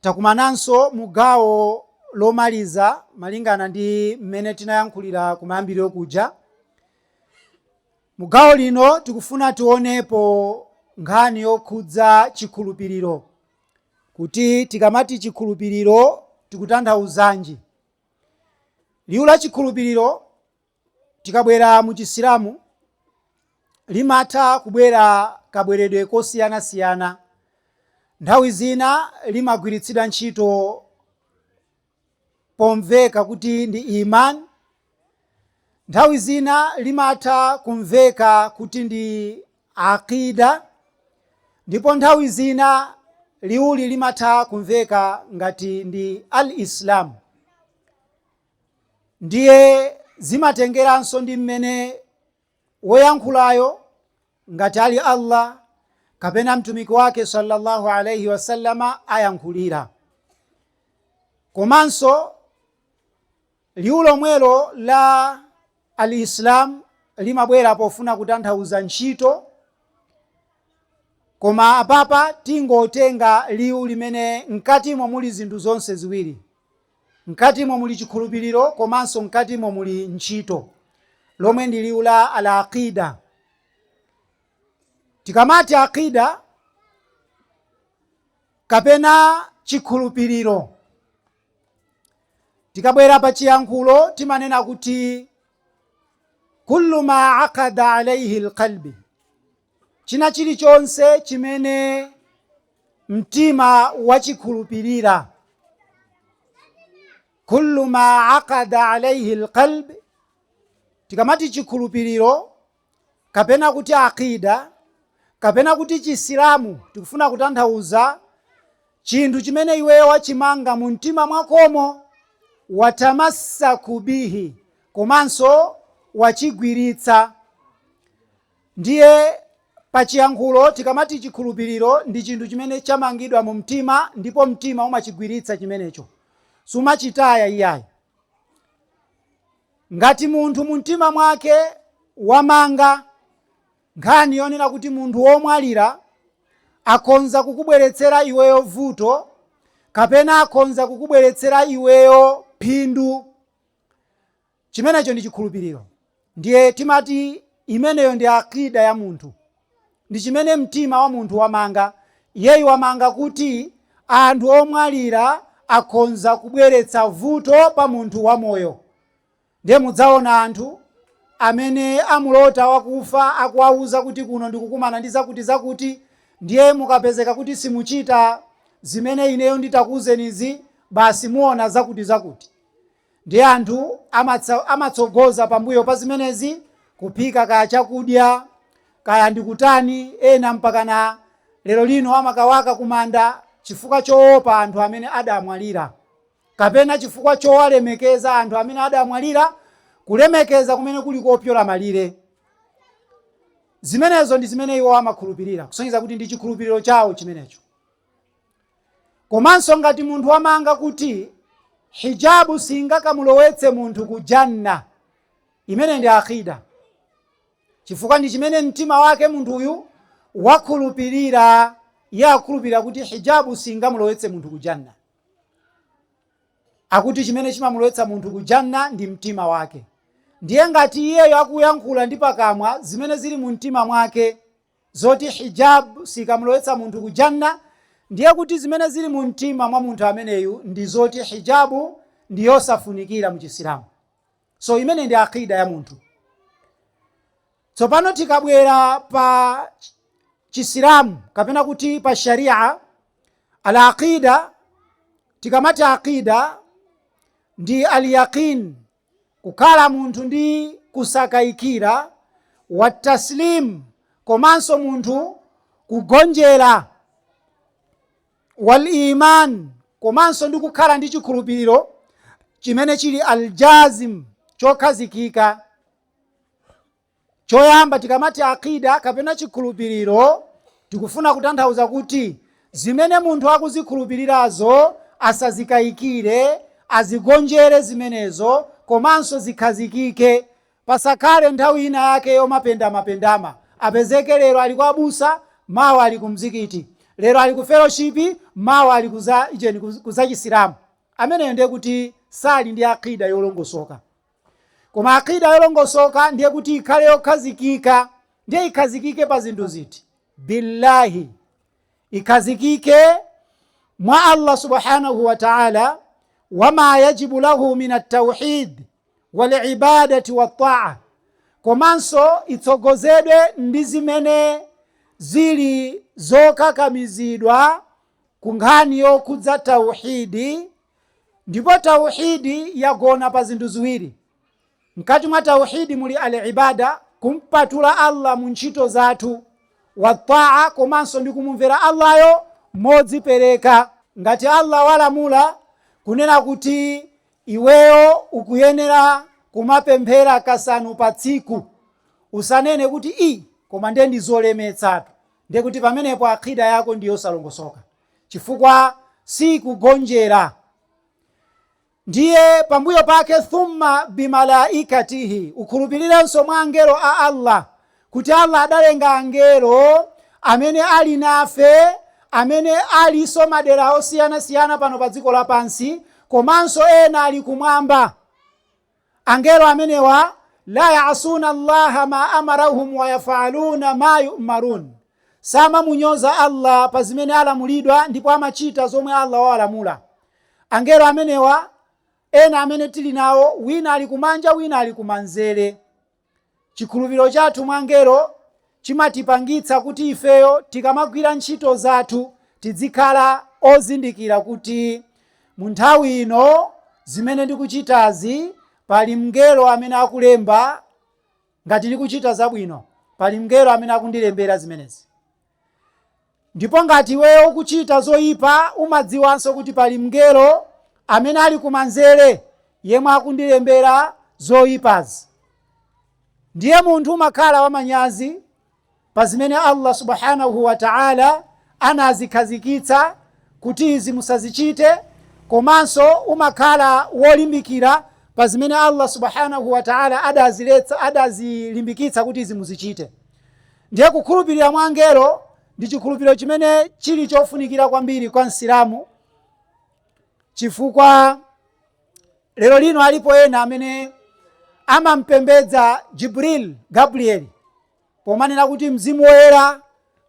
Takumananso mu gawo lomaliza malingana ndi mmene tinayankhulira kumayambiriro kuja. Mu gawo lino tikufuna tionepo nkhani yokhudza chikhulupiriro kuti tikamati chikhulupiriro tikutanthauzanji. Liwu la chikhulupiriro Tikabwera mu Chisilamu, limatha kubwera kabweredwe kosiyanasiyana. Nthawi zina limagwiritsidwa ntchito pomveka kuti ndi Iman, nthawi zina limatha kumveka kuti ndi Aqidah, ndipo nthawi zina liwuli limatha kumveka ngati ndi Al-Islam. Ndiye zimatengeranso ndi mmene woyankhulayo ngati ali Allah kapena mtumiki wake sallallahu alaihi wasallama ayankhulira. Komanso liwu lomwelo la al-Islam limabwera pofuna kutanthauza ntchito, koma apapa tingotenga liwu limene mkatimo muli zinthu zonse ziwiri, Mkatimo muli chikhulupiriro komanso mkatimo muli ntchito, lomwe ndi liwu la Al-Aqiidah. Tikamati Aqiidah kapena chikhulupiriro, tikabwera pa chiyankhulo timanena kuti, Kullu maa aqada alaihi lqalbi, China chilichonse chimene mtima wachikhulupirira, kullu ma aqada alaihi alqalb, tikamati chikhulupiriro kapena kuti aqida kapena kuti Chisilamu tikufuna kutanthauza chinthu chimene iweyo wachimanga mu mtima mwakomo, watamassaku bihi, komanso wachigwiritsa, Ndiye, pa chiyankhulo, tikamati chikhulupiriro, ndi chinthu chimene chamangidwa mu mtima, ndipo mtima umachigwiritsa chimenecho, sumachitaya iyayi. Ngati munthu mu mtima mwake wamanga nkhani yonena kuti munthu womwalira akhonza kukubweretsera iweyo vuto, kapena akhonza kukubweretsera iweyo phindu, Chimenecho ndi chikhulupiriro. Ndiye timati imeneyo ndi aqida ya munthu. Ndi chimene mtima wa munthu wamanga. Iyeyu wamanga kuti anthu omwalira akhonza kubweretsa vuto pa munthu wamoyo. Ndiye mudzaona anthu amene amulota wakufa akuwauza kuti kuno ndikukumana ndi zakutizakuti, ndiye mukapezeka kuti simuchita zimene ineyo nditakuuzenizi, basi muona zakutizakuti. Ndiye anthu amatsogoza pambuyo pa zimenezi, kuphika kaya chakudya, kaya ndi kutani, ena mpakana lero lino amakawaka kumanda chifukwa choopa anthu amene adamwalira, kapena chifukwa chowalemekeza anthu amene adamwalira, kulemekeza kumene kuli kopyola malire. Zimenezo ndi zimene iwo amakhulupirira, kusonyeza kuti ndi chikhulupiriro chawo chimenecho. Komanso ngati munthu wamanga kuti hijabu singakamulowetse munthu ku janna, imene ndi akida, chifukwa ndi chimene mtima wake munthuyu wakhulupirira. Iye akukhulupirira kuti hijabu singamulowetse munthu ku janna, akuti chimene chimamulowetsa munthu ku janna ndi mtima wake. Ndiye ngati iyeyo akuyankhula ndi pakamwa zimene zili mu mtima mwake zoti Hijab sikamulowetsa munthu ku Jannah, ndiye kuti zimene zili mu mtima mwa munthu ameneyu ndi zoti Hijab ndi yosafunikira mu Chisilamu. So imene ndi Aqeeda ya munthu. Tsopano tikabwera pa Chisilamu kapena kuti pa Sharia, al-Aqeeda, tikamati Aqeeda ndi al-Yaqeen, Kukhala munthu ndi kusakayikira, wa taslim, komanso munthu kugonjera, wal iman, komanso ndi kukhala ndi chikhulupiriro chimene chili al jazm, chokhazikika. Choyamba, tikamati Aqeeda kapena chikhulupiriro, tikufuna kutanthauza kuti zimene munthu akuzikhulupirirazo asazikayikire, azigonjere zimenezo komanso zikhazikike. Pasakhale nthawi ina yake yomapendamapendama. Apezeke lero ali kwa abusa, mawa ali ku mzikiti. Lero ali ku fellowship, mawa ali uje ku za chisilamu. Ameneyo ndiye kuti sali ndi Aqeeda yolongosoka. Koma aqida yolongosoka ndiye kuti ikhale yokhazikika, ndiye ikhazikike pa zinthu ziti? Billahi, ikhazikike mwa Allah subhanahu wa ta'ala, wama yajibu lahu min at-tauhid walibadati wattaa, komanso itsogozedwe ndi zimene zili zokakamizidwa ku nkhani yokhudza tauhidi Ndipo Tauheed yagona pa zinthu ziwiri. Mkati mwa Tauheed muli Al-Ibaada, kumpatula Allah mu ntchito zathu, wa Taa komanso ndi kumumvera Allah yo modzipereka. Ngati Allah walamula kunena kuti iweyo ukuyenera kumapemphera kasanu pa tsiku, usanene kuti, I, koma ndiye ndi zolemetsatu. Ndiye kuti pamenepo Aqida yako ndi yosalongosoka. chifukwa siikugonjera ndiye pambuyo pake thumma bimalaikatihi ukhulupirirenso mwa angelo a allah kuti allah adalenga angelo amene ali nafe amene alinso madera osiyanasiyana pano pa dziko lapansi komanso ena ali kumwamba Angelo amenewa, laa ya'suuna Allaha maa amarahum wa yaf'aluuna maa yu'maruun, samamunyoza Allah pa zimene alamulidwa ndipo amachita zomwe Allah wawalamula. Angelo amenewa ena amene tili nawo wina ali kumanja wina ali kumanzere. Chikhulupiriro chathu mwa angelo chimatipangitsa kuti ifeyo tikamagwira ntchito zathu tidzikhala ozindikira kuti mu nthawi ino zimene ndikuchitazi pali mngelo amene akulemba, ngati ndikuchita zabwino pali mngelo amene akundilembera zimenezi. Ndipo ngati iweyo ukuchita zoipa, umadziwanso kuti pali mngelo amene ali kumanzere yemwe akundilembera zoipazi. Ndiye munthu umakhala wamanyazi pa zimene Allah Subhaanahu wa Ta'ala anazikhazikitsa kuti izi musazichite komanso umakhala wolimbikira pa zimene Allah Subhaanahu wa Ta'ala adazilimbikitsa kuti izi muzichite. Ndiye kukhulupirira mwa angelo ndi chikhulupiriro chimene chili chofunikira kwambiri kwa Msilamu chifukwa lero lino alipo ena amene amampembedza Jibril Gabriel pomanena kuti mzimu woyera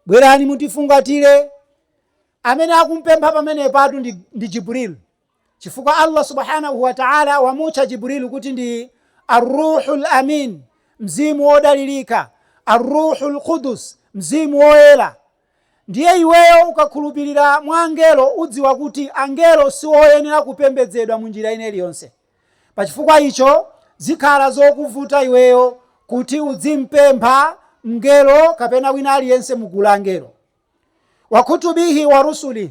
bwerani mutifungatire amene akumpempha pamenepatu ndi Jibril chifukwa Allah subhanahu wa ta'ala wamutcha Jibril kuti ndi Ar-Ruhul Amin, mzimu wodalirika, Ar-Ruhul Qudus, mzimu woyera. Ndiye iweyo ukakhulupirira mwa angelo udziwa kuti angelo si oyenera kupembedzedwa mu njira ina iliyonse. Pa chifukwa icho zikhala zokuvuta iweyo kuti udzimpempha mngelo kapena wina aliyense mu gulu la angelo. wakutubihi wa rusulih,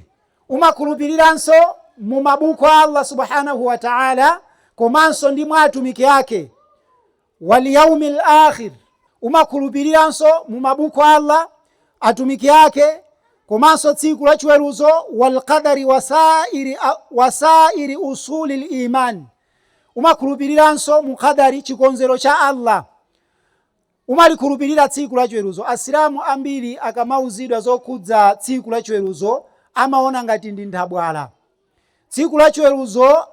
umakhulupiriranso mu mabuku a Allah Subhanahu wa Ta'ala komanso ndi mwa atumiki ake, wal yaumil akhir, umakhulupiriranso mu mabuku a Allah, atumiki ake komanso tsiku la chiweruzo, wal qadari wasairi usulil iman, umakhulupiriranso mu qadari, chikonzero cha Allah. Umalikhulupirira tsiku la chiweruzo? Asilamu ambiri akamauzidwa zokhudza tsiku la chiweruzo amaona ngati ndi nthabwala. Tsiku la chiweruzo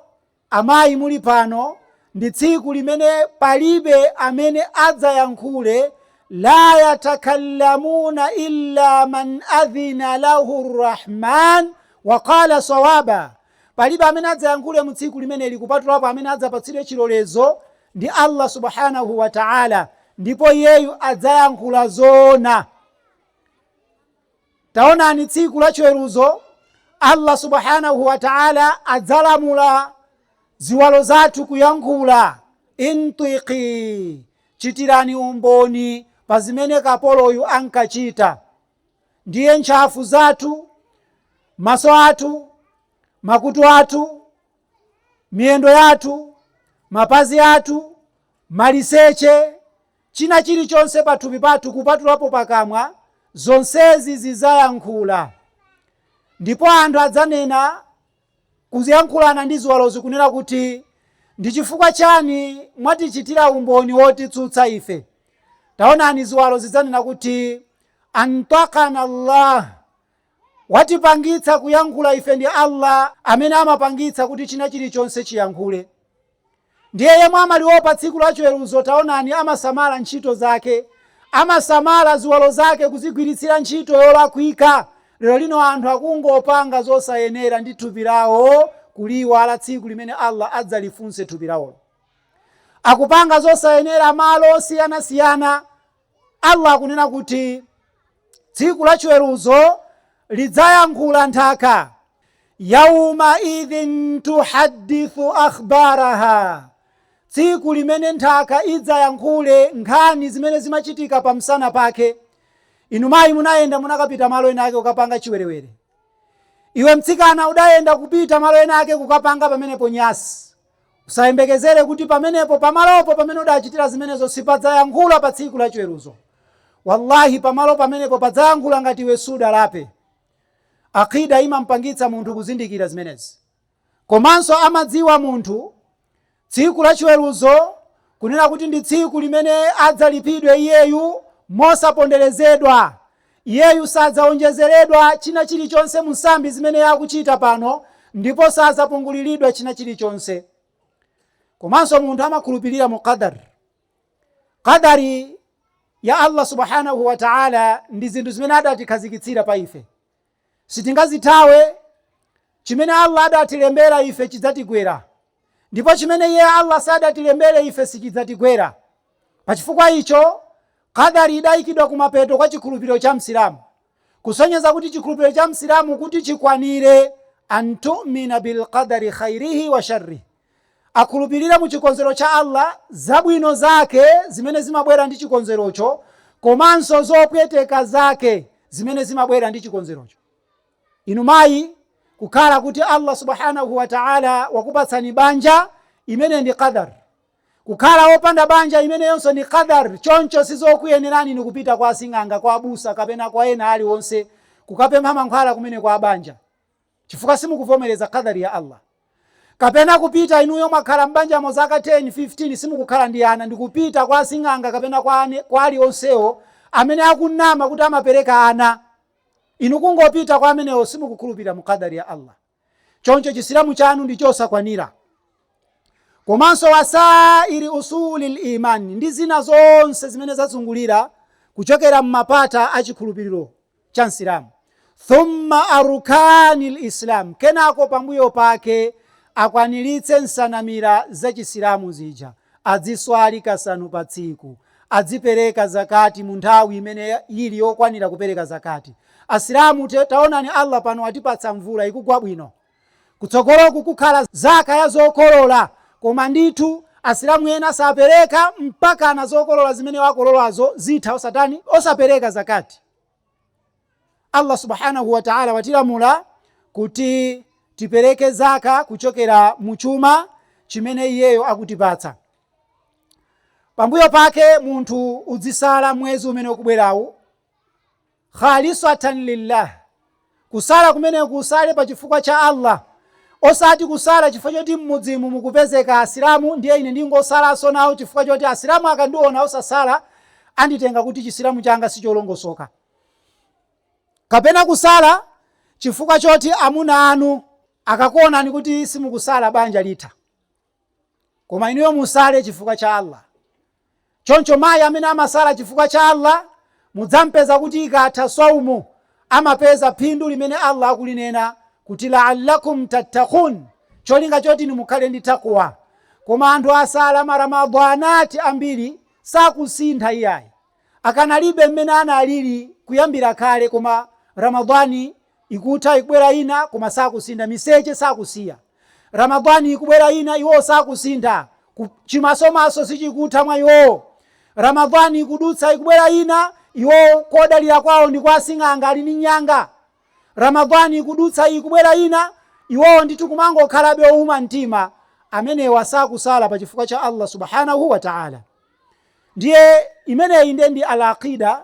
amayi muli pano ndi tsiku limene palibe amene adzayankhule La yatakallamuna illa man adhina lahu rrahman wa qala sawaba. Palibe amene adzayankhule mu tsiku limeneli kupatulapo amene adzapatsidwe chilolezo ndi Allah Subhaanahu wa Ta'ala, ndipo iyeyu adzayankhula zoona. Taonani tsiku la chiweruzo Allah Subhaanahu wa Ta'ala adzalamula ziwalo zathu kuyankhula, intwiqi, chitirani umboni pa zimene kapoloyu ankachita. ndiye ntchafu zathu, maso athu, makutu athu, miyendo yathu, mapazi athu, maliseche, china chilichonse pathupi pathu kupatulapo pakamwa, zonsezi zidzayankhula. Ndipo anthu adzanena Kuyankhulana ndi ziwalozi kunena kuti, Ndi chifukwa chani mwatichitira umboni wotitsutsa ife? Taonani ziwalo zidzanena kuti, Antwaqana Allah, Watipangitsa kuyankhula ife ndi Allah amene amapangitsa kuti chinachilichonse chiyankhule. Ndiye yemwe amaliopa tsiku la chiweruzo, taonani, amasamala ntchito zake, amasamala ziwalo zake kuzigwiritsira ntchito yolakwika. Lero lino anthu akungopanga zosayenera ndi thupi lawo kuliiwala tsiku limene Allah adzalifunse thupi lawo. Akupanga zosayenera malo osiyanasiyana Allah akunena kuti tsiku la chiweruzo lidzayankhula nthaka yauma idhin tuhaddithu akhbaraha tsiku limene nthaka idzayankhule nkhani zimene zimachitika pa msana pake inu mayi munayenda munakapita malo ena ake kukapanga chiwerewere iwe mtsikana udayenda kupita malo ena ake kukapanga pamenepo nyasi Usayembekezere kuti pamenepo, pamalopo pamene udachitira zimenezo, sipadzayankhula pa tsiku la chiweruzo. Wallahi pamalo pamenepo padzayankhula ngati iwe sudalape. Aqida imampangitsa munthu kuzindikira zimenezi. Komanso amadziwa munthu tsiku la chiweruzo kunena kuti ndi tsiku limene adzalipidwe iyeyu mosaponderezedwa Iyeyu sadzawonjezeredwa china chilichonse mu msambi zimene akuchita pano ndipo sadzapunguliridwa china chilichonse. Komanso munthu amakhulupirira mu Qadar. Qadar ya Allah Subhaanahu wa Ta'ala ndi zinthu zimene adatikhazikitsira pa ife. sitingazithawe. Chimene Allah adatilembera ife chidzatigwera, ndipo chimene Iye Allah sadatilembere ife sichidzatigwera. Pachifukwa icho, Qadar idayikidwa kumapeto kwa chikhulupiriro cha Msilamu, kusonyeza kuti chikhulupiriro cha Msilamu kuti chikwanire, An-tu'mina bil-qadari khayrihi wa sharrihi, Akhulupirire mu chikonzero cha Allah, zabwino Zake zimene zimabwera ndi chikonzerocho komanso zopweteka Zake zimene zimabwera ndi chikonzerocho. Inu mayi, kukhala kuti Allah Subhaanahu wa Ta'ala wakupatsani banja, imeneyi ndi qadar. Kukhala wopanda banja, imeneyonso ndi qadar, choncho sizokuyenerani inu kupita kwa asing'anga, kwa abusa kapena kwa ena aliwonse kukapempha mankhwala kumene kwa banja. chifukwa simukuvomereza qadar ya Allah. Kapena kupita inuyo mwakhala m'banjamo zaka 10, 15 simukukhala ndi ana ndikupita kwa asing'anga kapena kwa ane, kwa alionsewo amene akunama kuti amapereka ana. Inu kungopita kwa amenewo simukukhulupirira mu qadar ya Allah. Choncho chisilamu chanu ndi chosakwanira. Komanso wasairi usulil iman ndi zina zonse zimene zazungulira kuchokera m'mapata a chikhulupiriro cha Msilamu. Thumma arukanil islam, kenako pambuyo pake akwaniritse nsanamira za Chisilamu zija, adziswali kasanu pa tsiku, adzipereka zakati mu nthawi imene ili yokwanira kupereka zakati. Asilamu, taonani Allah pano atipatsa mvula ikugwa bwino. Kutsogoloku kukhala Zaka ya zokolola koma ndithu Asilamu ena sapereka mpakana zokolola zimene akololazo zitha osatani, osapereka Zakaat. Allah Subhaanah wa Ta'ala watilamula kuti tipereke zaka kuchokera mu chuma chimene iyeyo akutipatsa. Pambuyo pake munthu udzisala mwezi umene ukubwerawu. khalisatan lillah, kusala kumeneku usale pa chifukwa cha Allah, osati kusala chifukwa choti m'mudzimu mukupezeka Asilamu ndiye ine ndingosalanso nawo chifukwa choti Asilamu akandiona osasala anditenga kuti Chisilamu changa sicholongosoka, kapena kusala chifukwa choti amuna anu akakuonani kuti simukusala banja litha. Koma inuyo musale chifukwa cha Allah. Choncho mayi amene amasala chifukwa cha Allah mudzam'peza kuti ikatha swaumu amapeza phindu limene Allah akulinena kuti la'allakum tattaqun, cholinga choti inu mukhale ndi taqwa. Koma anthu asala ma Ramadhanat ambiri sakusintha iyayi. Akanalibe mmene analili kuyambira kale koma Ramadhan Ikutha, ikubwera ina, koma sakusintha. Miseche sakusiya. Ramadhan ikubwera ina, iwowo sakusintha. Chimasomaso sichikutha mwa iwowo. Ramadhan ikudutsa, ikubwera ina, iwowo kodalira kwawo ndi kwa asing'anga ali ndi nyanga. Ramadhan ikudutsa, ikubwera ina, iwowo ndithu kumangokhalabe owuma mtima. Amenewa sakusala pa chifukwa cha Allah Subhaanahu wa Ta'ala. Ndiye imeneyi nde ndi al-Aqidah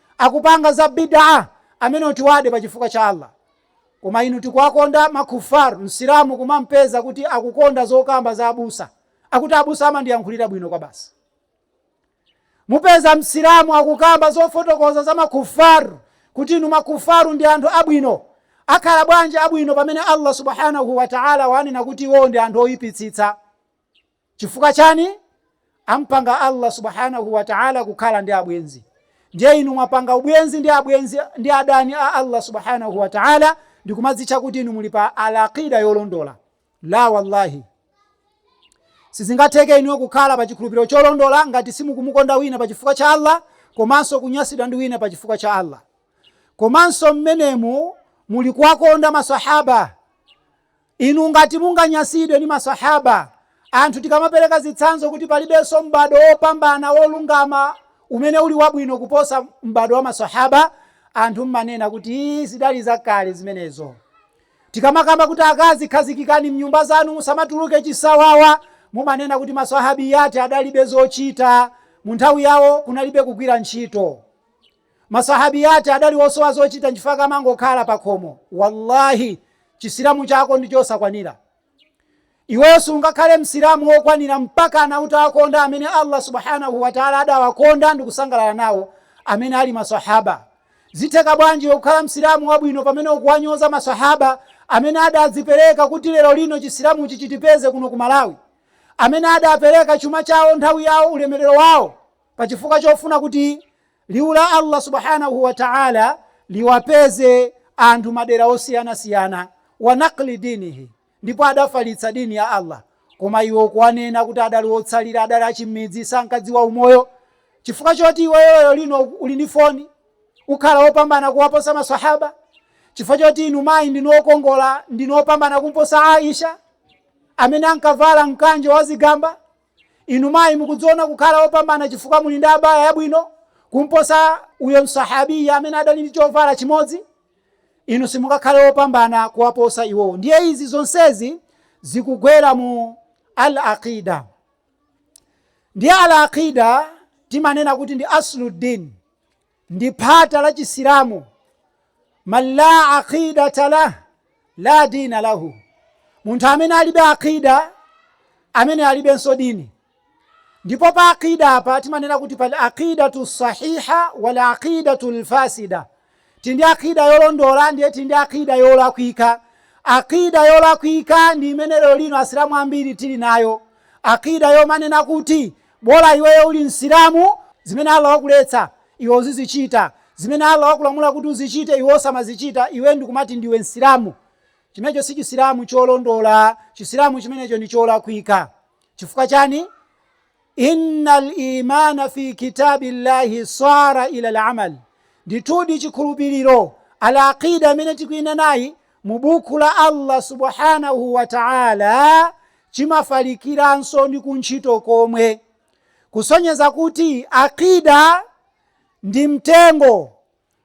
akupanga za bidah amenewo tiwade pa chifukwa cha Allah koma inu tikuwakonda ma kuffar msilamu kumampeza kuti akukonda zokamba za abusa akuti abusa amandiyankhulira bwino kwa basi mupeza msilamu akukamba zofotokoza za makufaru kuti inu makufaru ndi anthu abwino akhala bwanji abwino pamene allah subhanahu wataala wanena kuti iwowo ndi anthu oyipitsitsa Chifukwa chani? Ampanga Allah Subhaanahu wa Ta'ala kukhala ndi abwenzi. Ndiye inu mwapanga ubwenzi ndi adani a Allah Subhaanahu wa Ta'ala ndikumadzitcha kuti inu muli pa al-aqida yolondola. La wallahi. Sizingatheke inuyo kukhala pa chikhulupiriro cholondola ngati simukumukonda wina pa chifukwa cha Allah komanso kunyasidwa ndi wina pa chifukwa cha Allah. Komanso mmenemu muli kuwakonda maswahaba Inu ngati munganyasidwe ndi maswahaba anthu tikamapereka zitsanzo kuti palibenso m'bado wopambana wolungama umene uli wabwino kuposa m'bado wa maswahaba, anthu mmanena kuti iih zidali zakale zimenezo. Tikamakamba kuti akazi khazikikani mnyumba zanu musamatuluke chisawawa, mumanena kuti maswahabiyyat adalibe zochita, munthawi yawo kunalibe kugwira ntchito. Ma Sahabiyat adali wosowa zochita nchifukwa ankangokhala pakhomo. Wallahi Chisilamu chako ndi chosakwanira. Iweyo sungakhale Msilamu wokwanira mpakana utawakonda amene Allah Subhaanah wa Ta'ala adawakonda ndikusangalala nawo, amene ali ma Sahabah. Zitheka bwanji iwe kukhala Msilamu wabwino pamene ukuwanyoza ma Sahabah amene adadzipereka kuti lero lino Chisilamuchi chitipeze kuno ku Malawi? Amene adapereka chuma chawo, nthawi yawo, ulemerero wawo. pachifukwa chofuna kuti liwu la Allah subhanahu wa ta'ala liwapeze anthu madera osiyanasiyana wa nakli dinihi ndipo adafalitsa dini ya Allah koma iwo kuwanena kuti adali otsalira adali achimidzi sankadziwa umoyo chifukwa choti iweyoyo lino uli ndi foni ukhale wopambana kuwaposa masahaba chifukwa choti inu mayi ndinu okongola ndinu opambana kumposa Aisha amene ankavala mkanjo wazigamba Inu mayi mukudziona kukhala opambana chifukwa muli ndi abaya yabwino kumposa uyo msahabiya amene adali ndi chovala chimodzi? Inu simukakhale wopambana kuwaposa iwowo. Ndiye izi zonsezi zikugwera mu Al-Aqeeda. Ndiye Al-Aqeeda timanena kuti ndi Aslu-Din. ndi phata la Chisilamu. Man la aqidata lah la dina lahu, munthu amene alibe aqida ameneyo alibenso dini. Ndipo pa aqida apa timanena kuti pali aqidatu sahiha wal aqidatu lfasida, tili ndi aqida yolondola ndiye tili ndi aqida yolakwika. Aqida yolakwika ndi imene lero lino Asilamu ambiri tili nayo, aqida yomanena kuti Bola iweyo uli Msilamu, zimene Allah wakuletsa iwe uzizichita, zimene Allah wakulamula kuti uzichite iwe osamazichita, iwe ndikumati ndiwe Msilamu. Chimenecho si Chisilamu cholondola, Chisilamu chimenecho ndi cholakwika. Chifukwa chani? Innal imaana fii kitaabillahi saara ilal amal, ndithudi chikhulupiriro, Al-Aqeeda imene tikuinenayi, mu Buku la Allah Subhaanahu wa Ta'ala chimafalikiranso ndi ku ntchito komwe, kusonyeza kuti aqida ndi mtengo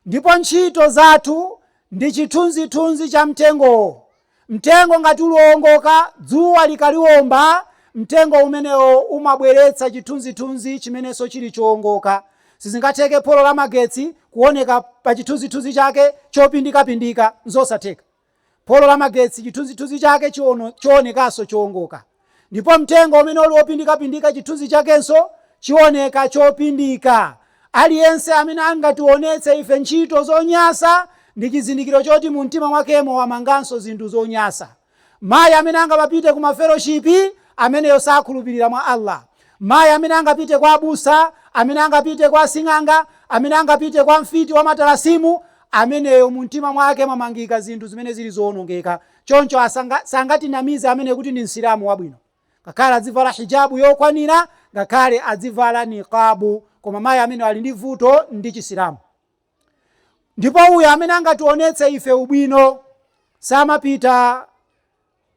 ndipo ntchito zathu ndi chithunzithunzi cha mtengowo. Mtengo ngati uli woongoka, dzuwa likawomba, mtengo umenewo umabweretsa chithunzithunzi chimenenso chili choongoka. Sizingatheke polo la magetsi kuoneka pa chithunzithunzi chake chopindikapindika. Nzosatheka. Polo la magetsi chithunzithunzi chake chionekanso choongoka. Ndipo mtengo umene uli wopindikapindika chithunzi chakenso chioneka chopindika. Aliyense amene angationetse ife ntchito zonyasa ndi chizindikiro choti mu mtima mwakemo wamanganso zinthu zonyasa. Mayi amene angamapite ku mafeloshipi, ameneyo sakhulupirira mwa Allah. Mayi amene angapite kwa abusa, amene angapite kwa asing'anga, amene angapite kwa mfiti wa matalasimu, ameneyo mumtima mwake mwamangika zinthu zimene zili zowonongeka. Choncho sangatinamize ameneyo kuti ndi Msilamu wabwino. Ngakhale adzivala hijabu yokwanira, ngakhale adzivala niqabu, koma mayi ameneyo ali ndi vuto ndi Chisilamu. ndipo uyo amene angatuonetse ife ubwino samapita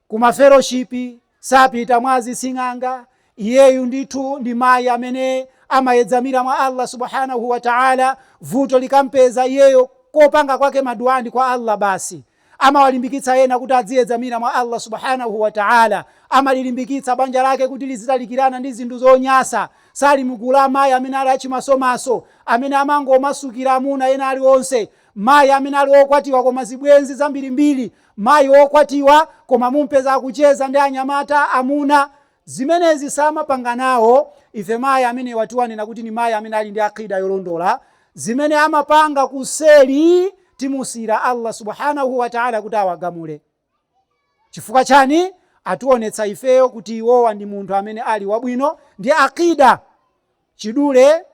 ku mafeloshipi sapita mwa azising'anga iyeyu ndithu ndi mayi amene amayedzamira mwa allah subhanahu wa taala vuto likampeza iyeyo kopanga kwake maduwa ndi kwa allah basi Amawalimbikitsa ena kuti adziyedzamira mwa Allah Subhaanahu wa Ta'ala. Amalilimbikitsa banja lake kuti lizitalikirana ndi zinthu zonyasa. Sali mu gulu la amayi amene ali achimasomaso, amene amangomasukira amuna ena ali onse. Mayi amene ali okwatiwa koma zibwenzi zambirimbiri. Mayi okwatiwa koma mumpeza akucheza ndi anyamata, amuna. Zimenezi samapanga nawo ife mayi amenewa tiwanena kuti ni mayi amene ali ndi aqeeda yolondola, zimene amapanga kuseli timusiyira Allah Subhaanah wa Ta'ala kuti awagamule. Chifukwa chani? Ationetsa ifeyo kuti iwowa ndi munthu amene ali wabwino ndi aqeeda Chidule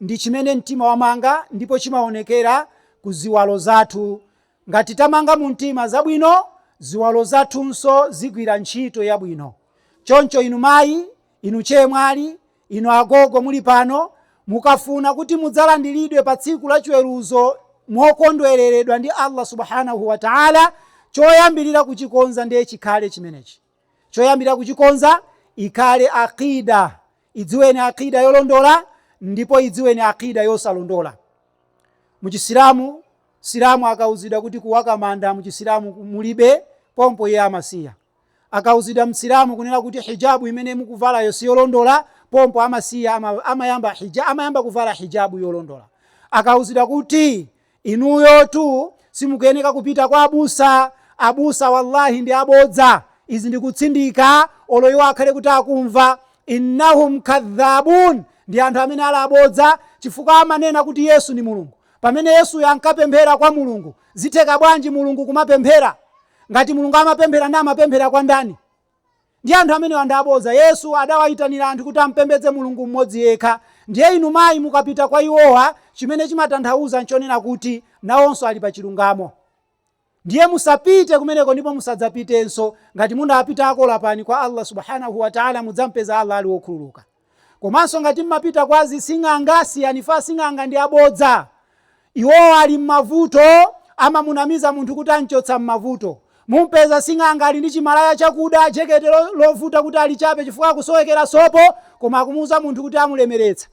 ndi chimene mtima wamanga ndipo chimaonekera ku ziwalo zathu. Ngati tamanga mumtima zabwino, ziwalo zathunso zigwira ntchito yabwino. Choncho inu mayi, inu chemwali, inu agogo muli pano, mukafuna kuti mudzalandiridwe pa tsiku la chiweruzo mokondwereredwa ndi Allah Subhaanah wa Ta'ala, choyambirira kuchikonza ndiye chikhale chimenechi. Choyambirira kuchikonza ikhale Aqidah. Idziweni Aqidah yolondola ndipo idziweni Aqidah yosalondola. Mu Chisilamu, Msilamu akauzidwa kuti kuwaka manda mu Chisilamu mulibe, pompo iye amasiya. Akauzidwa Msilamu kunena kuti hijabu imene mukuvalayo siyolondola, pompo amasiya, amayamba kuvala hijabu yolondola. Akauzidwa kuti Inuyotu simukuyeneka kupita kwa abusa, abusa wallahi ndi abodza, izi ndikutsindika olo iwo akhale kuti akumva, innahum kadhabun, ndi anthu amene ali abodza chifukwa amanena kuti Yesu ndi Mulungu, pamene Yesuyo ankapemphera kwa Mulungu, zitheka bwanji Mulungu kumapemphera? Ngati Mulungu amapemphera nde amapemphera kwa ndani? Ndiye anthu amenewa ndi abodza. Yesu adawayitanira anthu kuti ampembedze Mulungu m'modzi yekha. Ndiye inu mayi mukapita kwa iwowa, chimene chimatanthawuza nchonena kuti nawonso ali pa chilungamo. Ndiye musapite kumeneko ndipo musadzapitenso. Ngati munapitako lapani kwa Allah Subhaanahu Wataalaa mudzampeza Allah ali wokhululuka. Komanso ngati mmapita kwa azising'anga siyani fa sing'anga ndi abodza iwowa ali mmavuto amamunamiza munthu kuti amchotsa mmavuto mumpeza sing'anga ali ndi chimalaya chakuda jekete lovuta kuti alichape chifukwa akusowekera sopo koma akumuuza munthu kuti amulemeretsa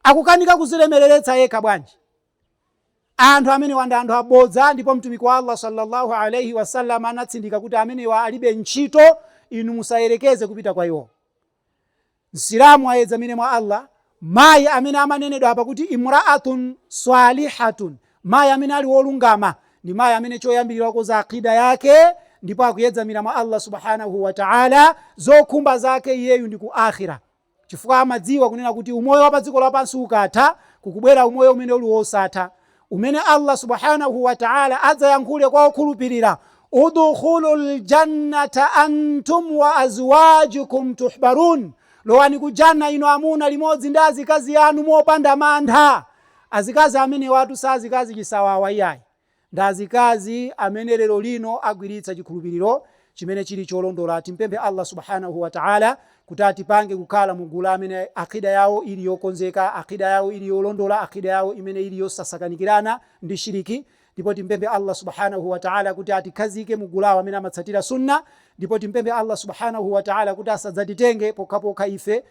akukanika kuzilemeleretsa yekha bwanji anthu amenewa ndi anthu abodza ndipo mtumiki wa Allah sallallahu alaihi wasallam anatsindika kuti amenewa alibe ntchito inu musayerekeze kupita kwa iwo Msilamu ayedzamire mwa Allah. Mayi amene amanenedwa apa kuti imraatun swaalihatun, mayi amene ali wolungama, ndi mayi amene choyambirira wakonza aqida yake ndipo akuyedzamira mwa Allah Subhaanahu wa Ta'ala, zokhumba zake iyeyu ndi ku Aakhira. Chifukwa amadziwa kunena kuti umoyo wa pa dziko lapansi ukatha, kukubwera umoyo umene uli wosatha. umene Allah Subhaanahu wa Ta'aala adzayankhule kwa okhulupirira, Udkhulul Jannata antum wa azwaajukum tuhbaruun, Lowani ku Jannah inu amuna limodzi ndi azikazi anu mopanda mantha. Azikazi amenewatu si azikazi chisawawa iyayi, ndi azikazi amene lero lino agwiritsa chikhulupiriro chimene chili cholondola. Timpemphe Allah Subhaanahu wa Ta'ala kuti atipange kukhala mu gulu amene aqida yawo ili yokonzeka, aqida yawo ili yolondola, aqida yawo imene ili yosasakanikirana ndi shiriki. Ndipo timpemphe Allah Subhaanahu wa Ta'ala kuti atikhazike mu gulu amene amatsatira Sunnah. Ndipo timpemphe Allah Subhaanahu wa Ta'ala kuti asadzatitenge pokhapokha ife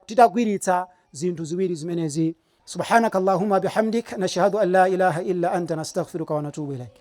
titagwiritsa zinthu ziwiri zimenezi. Subhaanakallahumma bihamdik nashhadu an laa ilaaha illa anta nastaghfiruka wa natuubu ilaik.